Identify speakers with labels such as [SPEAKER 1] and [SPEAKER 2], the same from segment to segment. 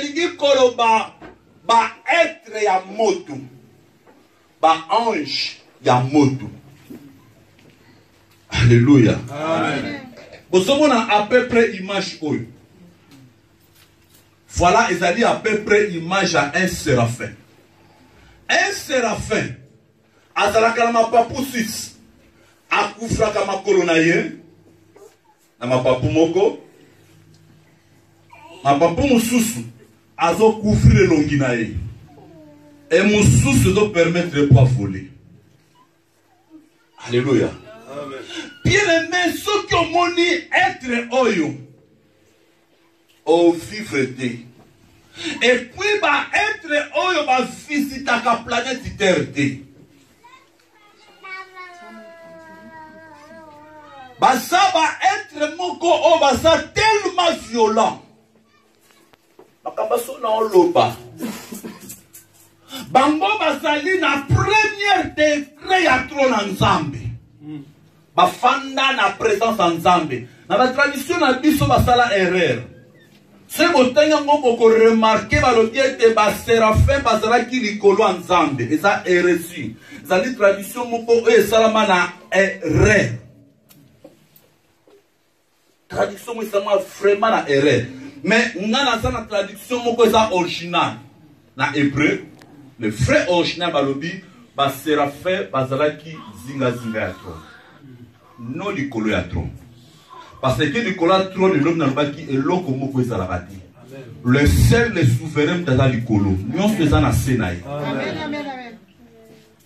[SPEAKER 1] elingi koloba baetre ya moto baange ya moto alleluya bozomona à peu près image oyo voilà ezali à peu près image ya un séraphin un séraphin azalaka na mapapu 6 akufaka makolo na ye na mapapu moko mapapu mosusu azokufrire elongi na ye e mosusu ezopermettre po avole alleluya bien aime soki omoni etre oyo au vivre te epuis baetre oyo bavisitaka planète terre te baza baetre moko oyo baza tellement violent makambo so na oloba bango bazali na première degre ya tro na nzambe bafanda na presence ya nzambe na batradition na biso basala erreur soki botangi yango bokoremarke balobi ete baserafin bazalaki likolo ya nzambe eza eresi ezali tradition moko oyo esalama na erreur traduction moko esangwa vraiment na erreur mais nga naza na traduction moko eza original na hébreu le vrai original balobi baserafe bazalaki zingazinga ya trone no likolo ya trone parce que likolo ya trone elobi nalobaki eloko moko ezalaka te le seul le souverain moto aza likolo nyonso eza na se na ye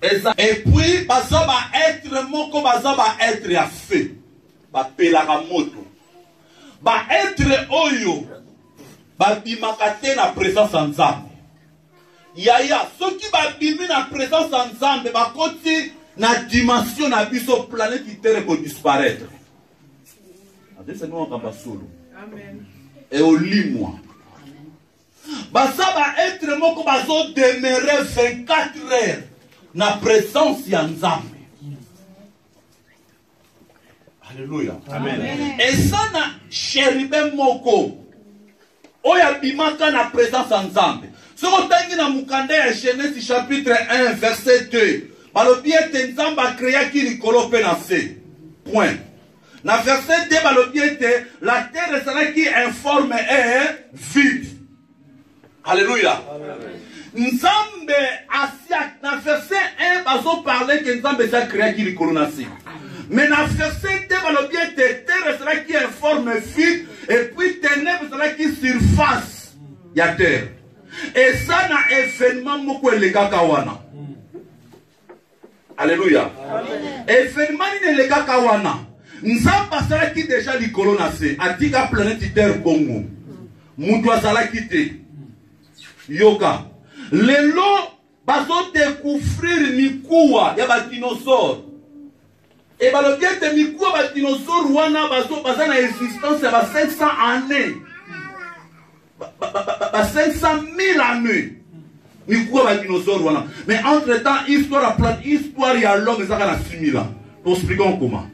[SPEAKER 1] eza et puis baza ba être moko baza ba être ya feu bapelaka moto ba être oyo babimaka te na présence ya nzambe yaya soki babimi na présence ya nzambe bakoti na dimension na biso planète itere ekodisparaître adesangi makambo ya solo eolimwa baza ba etre moko bazo demere 24 heures na presence ya nzambe alleluya eza na sheribe moko oyo abimaka na presence ya nzambe soki otangi na mokanda ya genese chapitre 1 verset 2 balobi ete nzambe akreaki likolo mpe na se point Na verset 2 balobi ete la terre ezalaki informe et vide. Alléluia. Nzambe asia na verset 1 bazo parler que Nzambe eza créaki likolo na se. Mais na verset 2 balobi ete terre ezalaki informe vide et puis ténèbres ezalaki surface ya terre. Eza na événement moko elekaka wana. aleluya evenema nini elekaka wana nzambe asalaki deja likolo na se atika planeti terre bongo moto azalaki te yoka lelo bazodecouvrir mikuwa ya badinosaure Et balobi ete mikuwa ba dinosaure wana bazo baza na existence ya ba 500 années. Ba, ba, ba, ba, ba 500 000 années. Mikuwa ba dinosaure wana. Mais entre temps histoire ya plate histoire ya l'homme ezaka na 6000 ans. Nous expliquons comment.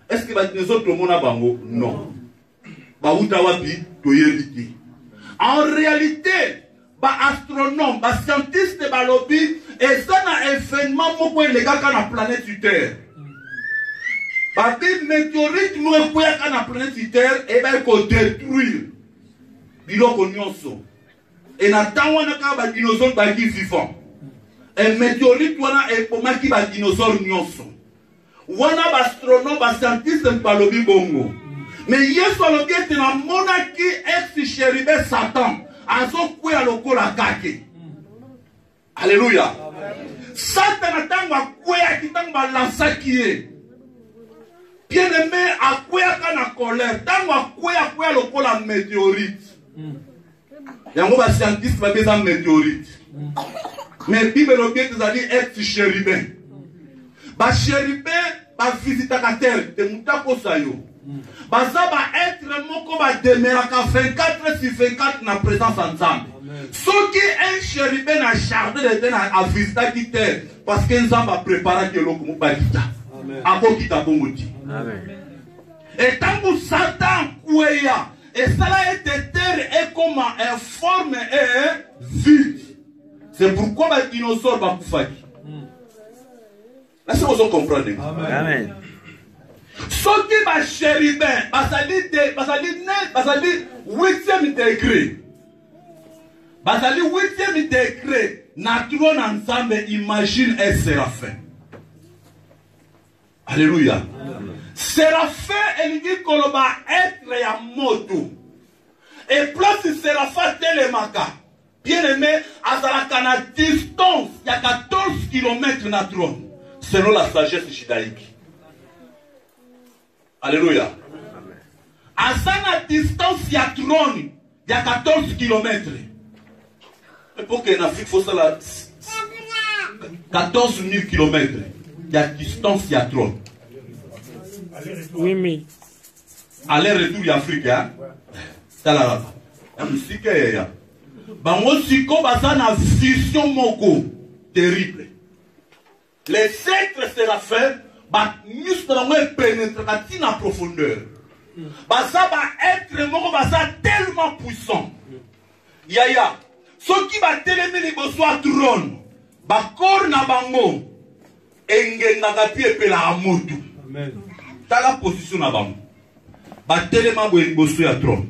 [SPEAKER 1] Est-ce que ba dinosaure tomona bango? Non. bawuta wapi toyebi te en réalité baastronome bascientiste balobi eza na événement moko elekaka na planète terre babi météorite moko ekweyaka na planète terre ebaki kodétruire biloko nyonso e na ntango wana kaka badinosaure baki vivant e météorite wana ebomaki badinosaure nyonso wana baastronome bascientiste balobi bongo me yesu alobi ete namonaki ex sheribe satan azokwea lokola kake aleluya satana ntango akweyaki ntango balansaki ye bien aime akweyaka na colère ntango akweya akweya lokola meteorite mm. yango bascientiste babi eza météorite mais bible elobi ete ezali ex chérubin bachérubin bavisitaka terre te moto akosa yo baza baetre moko bademeraka 24 sur 24 na présence ya nzambe soki un chérubin na jardin de tene avisitaki terre parce que nzambe apreparaki eloko moko bakita akokita bongo ti etango satan kweya esala ete terre ekoma informe e vide c'est pourquoi badinosaure bakufaki nasi bozo comprendre amen soki bachérubin bazali bazali bazali huitième degré bazali huitième degré na tro na nzambe imagine e serafin Alléluia. Séraphin elingi koloba être ya moto. Et place Séraphin telemaka, bien aimé, azalaka na distance ya 14 km na trône, selon la sagesse judaïque. Alléluia. Aza na distance ya trône ya 14 kilomètre epokende na afrique fosala 14 000 kilomètre ya distance ya trop
[SPEAKER 2] aller
[SPEAKER 1] retour ya afrique ya talalaka ya mosika yaya bango siko baza na vision moko terrible Les êtres seraphin ba misu na bango epenetraka ti na profondeur baza ba être moko baza tellement puissant yaya soki batelemi liboso ya trone bakore na bango engengaka mpe epelaka moto tala position na bango batelema boye liboso ya trone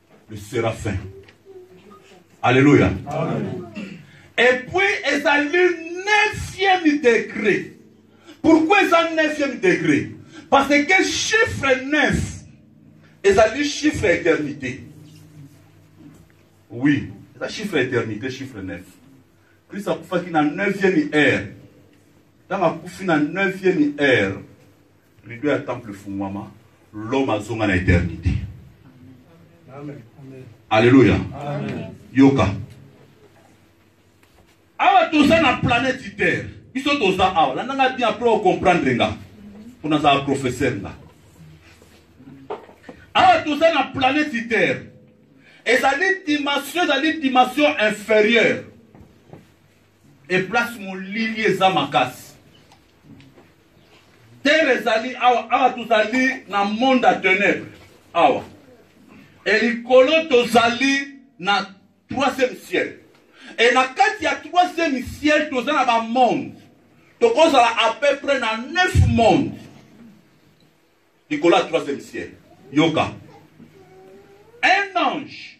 [SPEAKER 1] le séraphin alléluia et puis ezali neuvième degré pourquoi eza neuvième degré parce que chiffre 9 ezali chiffre éternité oui eza chiffre éternité chiffre 9 kristo akufaki na 9e heure ntango akufi na 9e heure Rido ya temple efungwama, l'homme azonga na eternite. Aleluya. Yoka. Awa toza na planète Terre. Biso toza awa. Landa nga bien après o comprendre nga. Kuna za professeur nga. Awa toza na planète Terre. Ezali dimension, ezali dimension inférieure. e place molili eza makasi terre ezali awa awa tozali na monde ya tenebre awa e likolo tozali na troisième ciel e na kati ya troisième ciel toza na bamonde tokozala à peu près na neuf monde likolo ya troisième ciel yoka un ange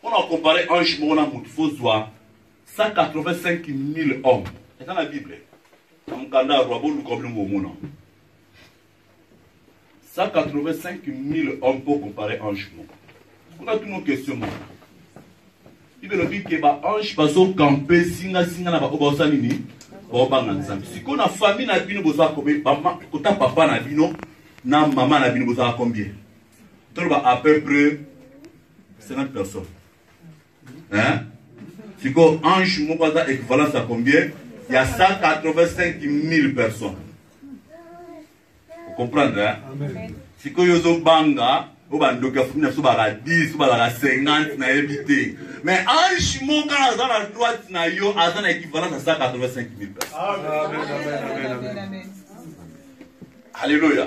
[SPEAKER 1] mpo na compare ange moko na motu fozwa 185 000 hommes eza na bible na mokanda ya roi boluka bino bomona 185 000 hommes mpo compare ange moko kuna tuno question moko bible elobi ke baange bazokampe singasinga na baoyo baosa nini baobanga nzambe sikoyo na famille na bino bozala kota papa na bino na mama na bino bozala combien toloba à peu près 50 personnes hein sikoyo ange moko aza équivalence ya combien ya 185 000 personnes okomprendre hein? sikoyo ozobanga oyo bandoki ya fumi na biso balaka 10 balaka 50 nayebi te mais ange moko aza na droite na yo aza na équivalence ya 185 000 personnes alléluia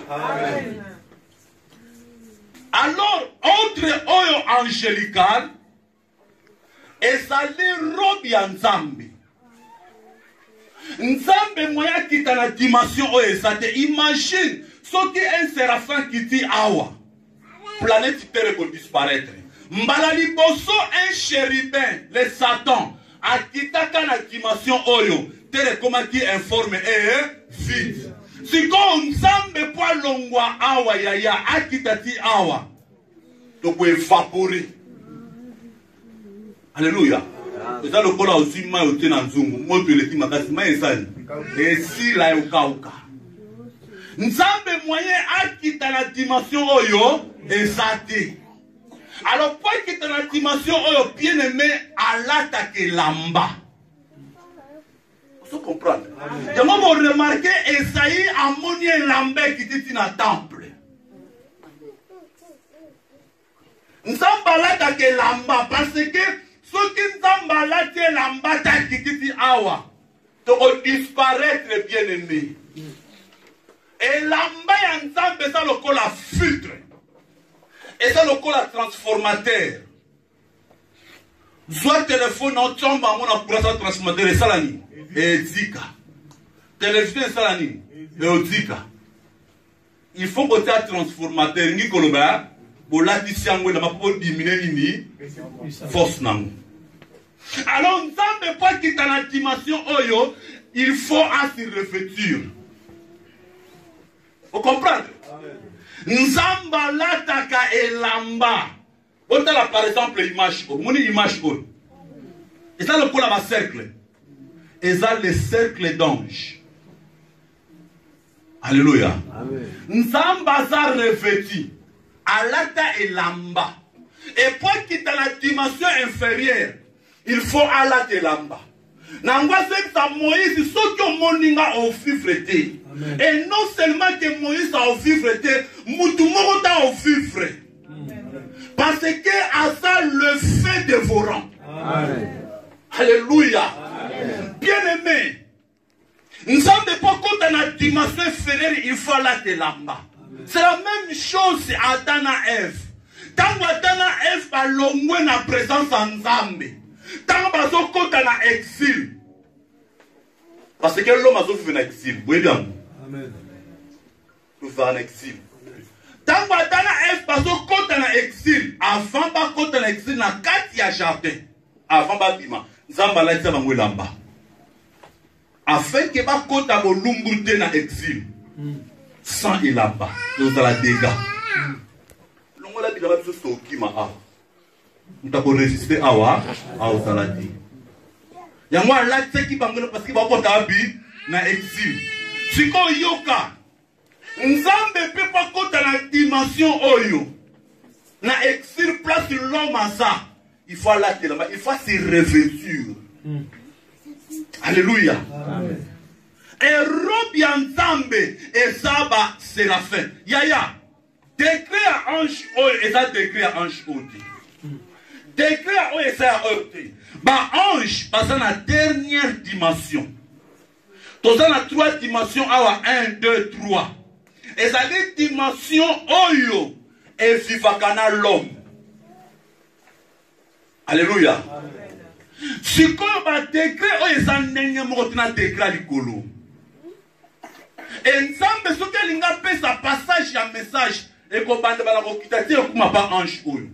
[SPEAKER 1] alors ordre oyo angelical ezali robe ya nzambe nzambe moye akita na dimension oyo eza te imagine soki un serafin kiti awa planète terre ekodisparaître mbala liboso un chérubin le satan akitaka na dimension oyo tere ekomaki informe ee vide sikoyo nzambe mpo alongwa awa yaya akita ti awa tokoevapore aleluya eza lokola ozwi mai otie na nzungu moto eleki makasi mai esali esila yokauka nzambe moyen akita na dimension oyo eza te alors mpo ekita na dimension oyo bien aime alataka elamba ozo comprendre yango boremarke esai amoni elamba ekiti ti na temple nzambe alataka elamba parce que soki nzambe alati elamba te akiti ti awa tokodisparaître bien aime Elamba ya Nzambe eza lokola filtre, eza lokola transformateur. Zwa telefone otyomba yango na kurasa transformateur, esala nini? Ezika. Televizio esala nini? Eozika. Il faut kotia transformateur, ngi koloba bolatisi yango elamba mpo odimine nini force na yango. Alors Nzambe mpo akita na dimension oyo, il faut à se revêtir. Vous comprenez Nzambe alataka elamba. Otala par exemple image oyo, moni image oyo. Eza lokola ba cercle. Eza le cercle d'ange. Alléluia. Nzambe aza revêtu, alata elamba. Et mpo akita na dimension inférieure, il faut alata elamba. na yango azongisa moïse soki omoni nga ovivre te et non seulement ke moïse aovivre te mutu moko ta ovivre parce que aza le fin dévorant alléluia bien aimé nzambe mpo akota na dimension inférieure il faut alata elamba c'est la même chose ata na eve ntango ata na eve balongwe na présence ya nzambe ntango bazokota na exile parce que loma azovive na exile boyebi yango tozala na exile ntango ata na eve bazokɔta na exile avant bakɔta na exile na kati ya jardin avant babima nzambe alatisa bango elamba afin ke bakɔta bolumbu te na exile hmm. sans elamba tozala dega hmm. longola bilamba biso sokima awa moto akoresiste awa aozala te yango alatisaki bango na parceke bakota wapi na exil sikoyo yoka nzambe mpe mpo akota na dimension oyo na exil place l'homme aza il faut alatelama il faut se revêtir mm. alleluya erobe ya nzambe eza baseraphim yaya Degré ya ange oyo eza degré ya ange oyo te. Degré ya oyo eza ya oyo te. Ba ange baza na dernière dimension. Toza na trois dimensions awa 1 2 3. Ezali dimension oyo evivaka na l'homme. Alléluia. Amen. sikoyo badegre oyo eza ndenge moko te na degre ya likolo Et Nzambe soki alingi apesa passage ya message ekobanda bala kokita ti ekuma ba ange oyo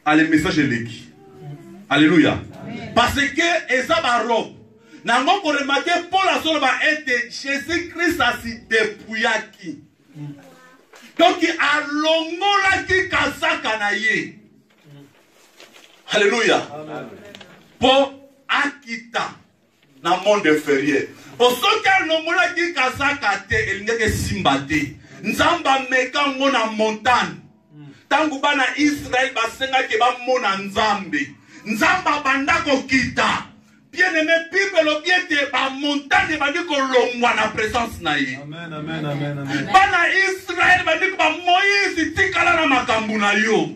[SPEAKER 1] ale message eleki alleluya parce que eza barobe na yango koremake paul azoloba ete jésus christ asidepuyaki donki alongolaki kazaka na ye alleluya mpo akita na monde inférieur po soki alongolaki kazaka te elingaki esimba te nzambe ameka ngo na montagne ntango bana israele basengaki bamona nzambe nzambe abanda kokita bien aime bible elobi ete bamontane ebandi kolongwa na presence na ye
[SPEAKER 3] bana israele
[SPEAKER 1] bandiki bamoise tikala na makambo na yo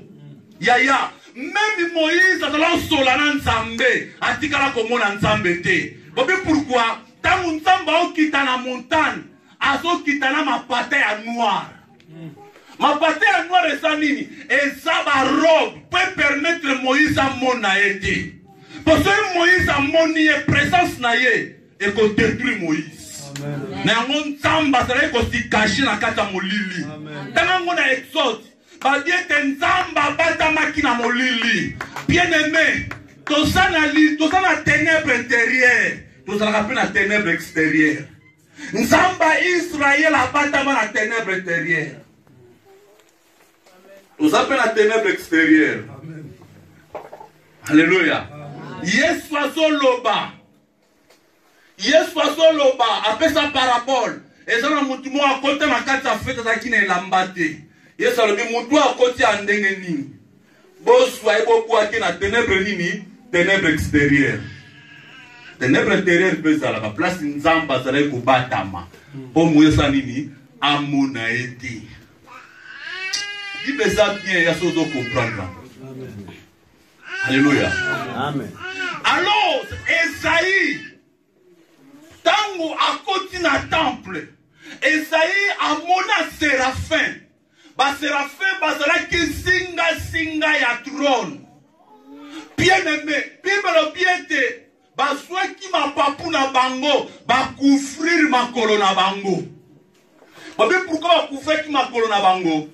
[SPEAKER 1] Yaya, meme Moïse azala osola na Nzambe, atikala komona Nzambe te. Bobi pourquoi? Tango Nzambe aokita na montagne, azokita na mapata ya noir. Mapata ya noir eza nini? Eza ba robe po permettre Moïse amona ye te. Po soki Moïse amoni ye, presence na ye ekodetruire Moïse. na yango nzambe azalaki kosikashi na kati ya molili tanga yango na exode Balobi ete Nzambe abatamaki na molili. Bien aimé, toza na li, toza na ténèbres intérieures, tozalaka mpe na ténèbres extérieures. Nzambe ya Israël abatama na ténèbres intérieures. Toza mpe na ténèbres extérieures. Alléluia. Yesu azoloba. yesu azoloba apesa parabole eza na motu moko akota na kati ya fete azalaki na elamba te yesu alobi motu akoti ya ndenge nini bozwa ye bobwaki na tenebre nini tenebre exterieur tenebre interieur mpe ezalaka place nzambe azalaki kobatama mpo moyesa nini amona ye te bible eza bien ya soki ozo comprendre yango Alléluia. Amen.
[SPEAKER 3] Alors,
[SPEAKER 1] Esaïe, tango akoti na temple, Esaïe amona serafin. Ba serafin bazalaki singa singa ya trône. Bien aimé, Bible lobi ete bazwaki mapapu na bango bakufrir makolo na bango babe pourkui bakufraki makolo na bango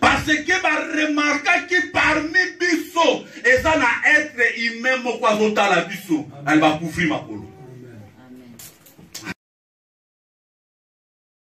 [SPEAKER 1] parce que baremarkaki parmi biso eza na etre humain moko azotala biso nani bakufri makolo